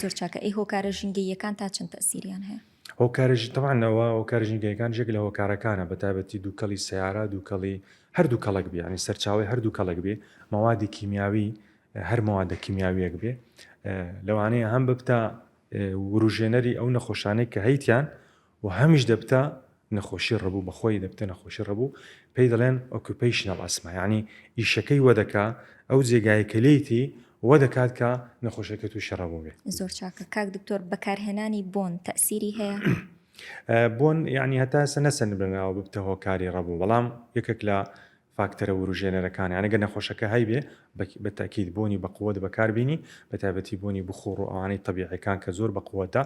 زۆر چاکە ئەی هۆکارە ژینگەییەکان تا چەند تەئسیریان هەیە؟ هۆکارە ژی تەبعەن ئەوە هۆکارە ژینگەیەکانیش یەک لە هۆکارەکانە بە تایبەتی دووکەڵی سەیارە دووکەڵی هەر دوو کەڵک بێ یانی سەرچاوی هەر دوو کەڵک بێ مەوادی کیمیاوی هەر مەوادە کیمیاویەک بێ لەوانەیە هەم ببتە وروژێنەری ئەو نەخۆشانەی کە هەیتیان و هەمیش دەبتە نەخۆشی ڕەبو بەخۆی دەبتە نەخۆشی ڕەبو پێی دەڵێن ئۆکیوپەیشنەڵ ئەسما یانی ئیشەکەی وەدەکا ئەو جێگایە کە لێیتی وەدەکات کە نەخۆشەکە توشی ڕەبو بێ. زۆر چاکە کاک دکتۆر بەکارهێنانی بۆن تەئسیری هەیە؟ بۆن یانی هەتا ئێستا نەسەندرنراوە ببتە هۆکاری ڕەبو بەڵام یەکەک لە فاکتەرە وروژێنەرەکان یانی گەر نەخۆشەکە هەیبێ بە تەئکید بۆنی بە قوت بەکار بینی بە تایبەتی بۆنی بخوڕ و ئەوانەی تەبیعیەکان کە زۆر بە قوتە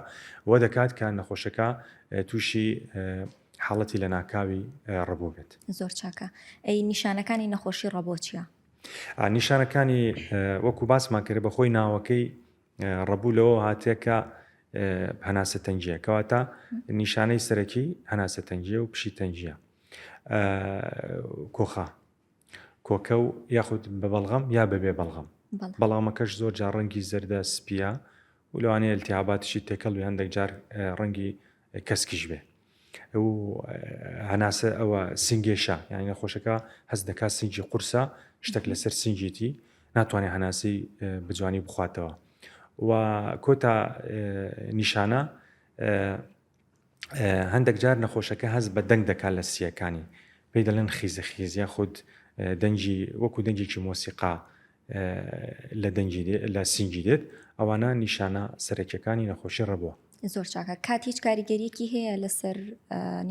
وە دەکات کە نەخۆشەکە تووشی حاڵەتی لە ناکاوی ڕەبۆ بێت زۆر چاکە ئەی نیشانەکانی نەخۆشی ڕەبۆ چیە؟ نیشانەکانی وەکو باسمان کرد بە خۆی ناوەکەی ڕەبوو لەوە هاتێکە هەناسە تەنگیە کەواتە نیشانەی سەرەکی هەناسە تەنگیە و پشی تەنگیە کۆخا، کۆکە و یاخود بە بەڵغەم یا بەبێ بەڵغەم، بەڵغەمەکەش زۆر جار ڕەنگی زەردە سپیە و لەوانەیە التهاباتیشی تێکەڵ بێ هەندێک جار ڕەنگی کەسکیش بێ و هەناسە ئەوە سنگێشە یانی نەخۆشەکە هەست دەکا سنگی قورسە شتێک لەسەر سنگێتی ناتوانێت هەناسی بجوانی بخواتەوە و کۆتا نیشانە هەندێک جار نەخۆشەکە هەست بە دەنگ دەکات لە سییەکانی پێی دەڵێن خیزە خیز یا خود دەنگی وەکو دەنگێکی مۆسیقا لە دەنگی لە سینگی دێت ئەوانە نیشانە سەرەکیەکانی نەخۆشی ڕەبووە زۆر چاکە کات هیچ کاریگەریەکی هەیە لەسەر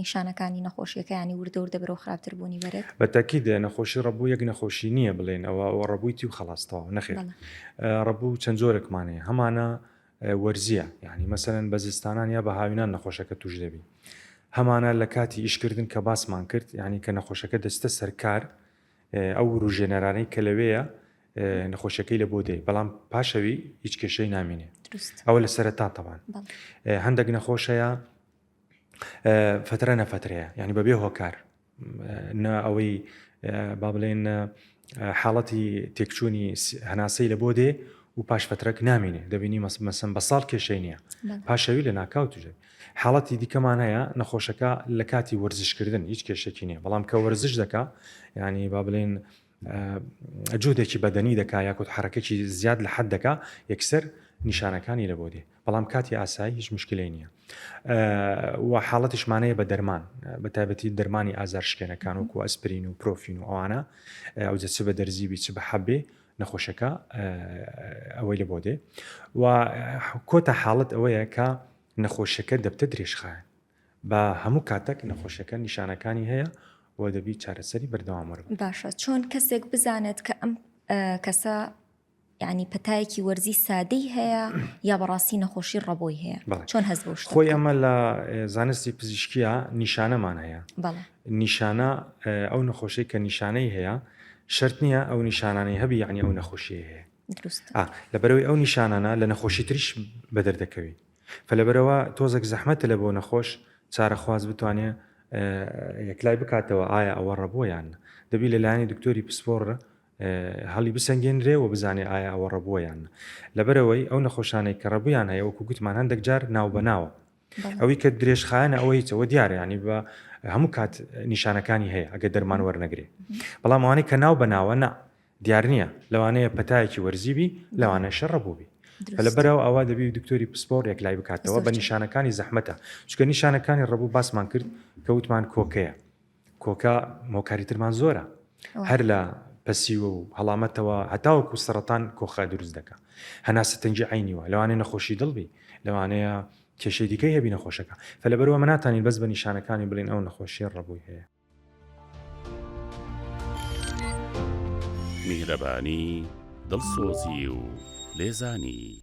نیشانەکانی نەخۆشیەکانی وردەور دەبرەوە خراپتر بوونی بەرێت بەتەکی دێ نەخۆشی ڕەبوو یەک نەخۆشی نییە بڵێن ئەوە ئەوە ڕەبوویتی و خلاصتەوە نەخێت ڕەبوو چەند جۆرەکمانەیە هەمانە وەرزیە یانی مەسەلەن بە زستانان یا بە هاوینان نەخۆشەکە توش دەبی هەمانە لە کاتی ئیش کردن کە باسمان کرد یانی کە نەخۆشەکە دەستە سەرکار ئەو وروژێنەرانەی کە لەوەیە نەخۆشەکەی لە بۆ دەی بەڵام پاشەوی هیچ کێشەی نامینێ ئەوە لە سەرتا تەوان هەندێک نەخۆشەیە فترە نەفترەیە ینی بەبێ هۆکار نا ئەوەی با بڵێن حاڵەتی تێکچوونی هەناسەی لە بۆ دێ و پاش فترەک نامینێ دەبینی مەسم بە ساڵ کێشەی نییە پاشەوی لە ناکاو توژێت حاڵەتی دیکەمان هەیە نەخۆشەکە لە کاتی وەرزشکردن هیچ کێشێکی نیە بەڵام کە وەرزش دەکا ینی با بڵێن جهدێکی بەدەنی دەکا یاخود حەڕەکەکی زیاد لە حەد دەکا یەکسەر نیشانەکانی لە بۆ دێ بەڵام کاتی ئاسایی هیچ مشکلی نییە و حاڵەتیشمانەیە بە دەرمان بە تایبەتی دەرمانی ئازار شکێنەکان وکو ئەسپرین و پرۆفین و ئەوانە ئەو جە چ بە دەرزیبی چ بە حەبێ نەخۆشەکە ئەوەی لە بۆ دێ و کۆتا حاڵت ئەوەیە کە نەخۆشەکە دەبتە درێژخایەن بە هەموو کاتەک نەخۆشیەکە نیشانەکانی هەیە و دەبی چارەسەری بەردەوام وەربگری. باشە چۆن کەسێک بزانێت کە ئەم کەسە یعنی پەتایەکی وەرزی سادەی هەیە یا بەڕاستی نەخۆشی ڕەبۆی هەیە چۆن هەز بۆ خۆی ئەمە لە زانستی پزیشکیە نیشانەمان هەیە نیشانە ئەو نەخۆشی کە نیشانەی هەیە شرت نییە ئەو نیشانانەی هەبی یعنی ئەو نەخۆشی هەیە لەبەرەوەی ئەو نیشانانە لە نەخۆشی تریش بەدەردەکەوی فە لەبەرئەوە تۆزەک زەحمەتە لە بۆ نەخۆش چارەخواز بتوانێ یەکلای بکاتەوە ئایا ئەوە ڕەبووە یان نە دەبی لە لایەنی دکتۆری پسپۆڕ هەڵی بسەنگێنرێ و بزانێ ئایا ئەوە ڕەبووە یان نە لەبەرەوەی ئەو نەخۆشانەی کە ڕەبویان هەیە وەکو گوتمان هەندێک جار ناو بەناوە ئەوی کە درێژخایەنە ئەوە هیچەوە دیارە ینی بە هەموو کات نیشانەکانی هەیە ئەگە دەرمان وەرنەگرێ بەڵام ئەوانەی کە ناو بەناوە نا دیار نییە لەوانەیە پەتایەکی وەرزی بی لەوانە شەڕە بوو بی لە بەراو ئەوە دەبی دکتۆری پسپۆڕ یەکلای بکاتەوە بە نیشانەکانی زەحمەتە چکە نیشانەکانی ڕەبوو باسمان کرد کە وتمان کۆکەیە کۆکە مۆکاری ترمان زۆرە هەر لە پەسیوە و هەڵامەتەوە هەتاوەکو سەرەتان کۆخە دروست دەکە هەناسە تەنجی عینیوە لەوانێ نەخۆشی دڵبی لەوانەیە کێشەی دیکەی هەبی نەخۆشەکە فە لەبەرەوە مناتانی بەس بە نیشانەکانی بڵین ئەو نەخۆشیە ڕەبووی هەیە میهرەبانی، دڵسۆزی و لێزانی.